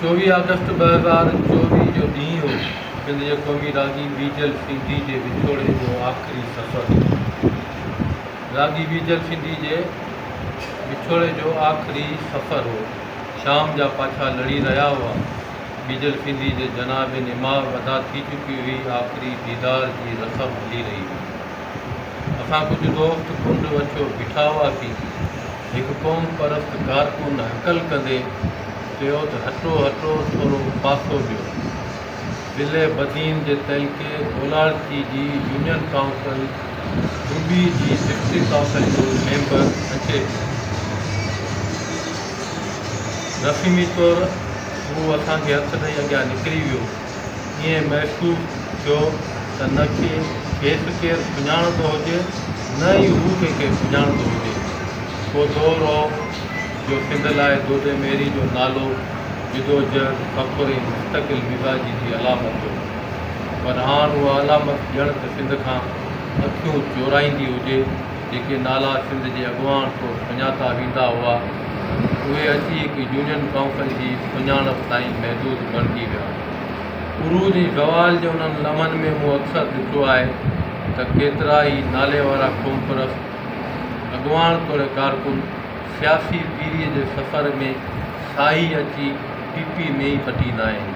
چوويهه آگسٽ ٻه هزار چوويهه جو ڏينهن هو سنڌ جي قومي راڳي بيجل سنڌي جي وڇوڙي جو آخري سفر هو. راڳي بيجل سنڌي جي وڇوڙي جو آخري سفر هو. شام جا پاڇا لڙي رهيا هئا. بيجل سنڌي جي جناب نماء ادا ٿي چڪي هئي. آخري ديدار جي رسم هلي رهي هئي. اسان ڪجهه دوست ڪنڊ وڇو بيٺا هئاسين. هڪ قوم پرست ڪارڪن هڪل ڪندي چيو ته هٽو هٽو ٿورو پاسو ڏيو. بلهه بدين جي تعلقي اولاڙڪي جي يونين ڪائونسل ڊوبي جي سيڪٽري ڪائونسل جو ميمبر اچي ٿو. رسمي طور هو اسان کي هٿ ڏئي اڳيان نڪري ويو. ائين محسوس ٿيو ته نه کيس ڪير سڃاڻندو هجي نه ئي هو ڪنهنکي سڃاڻندو هجي. ڪو دور هو جو سنڌ لاء دودي ميري جو نالو جدوجهد، فخر ۽ مستقل مزاجي جي علامت هو پر هاڻ اها علامت ڄڻ ته سنڌ کان اکيون چورائيندي هجي. جيڪي نالا سنڌ جي اڳواڻ طور سڃاتا ويندا هئا، اهي اچي هڪ يونين ڪائونسل جي سڃاڻپ تائين محدود بڻجي ويا. عروج ۽ زوال جي انهن لمحن ۾ مون اڪثر ڏٺو آهي ته ڪيترا ئي نالي وارا قومپرست اڳواڻ توڙي ڪارڪن سياسي پيري جي سفر ۾ ساهي اچي پي پي ۾ ئي پٽيندا آهن.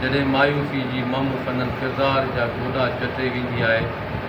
جڏهن مايوسي جي مم سندن ڪردار جا گوڏا چٽي ويندي آهي،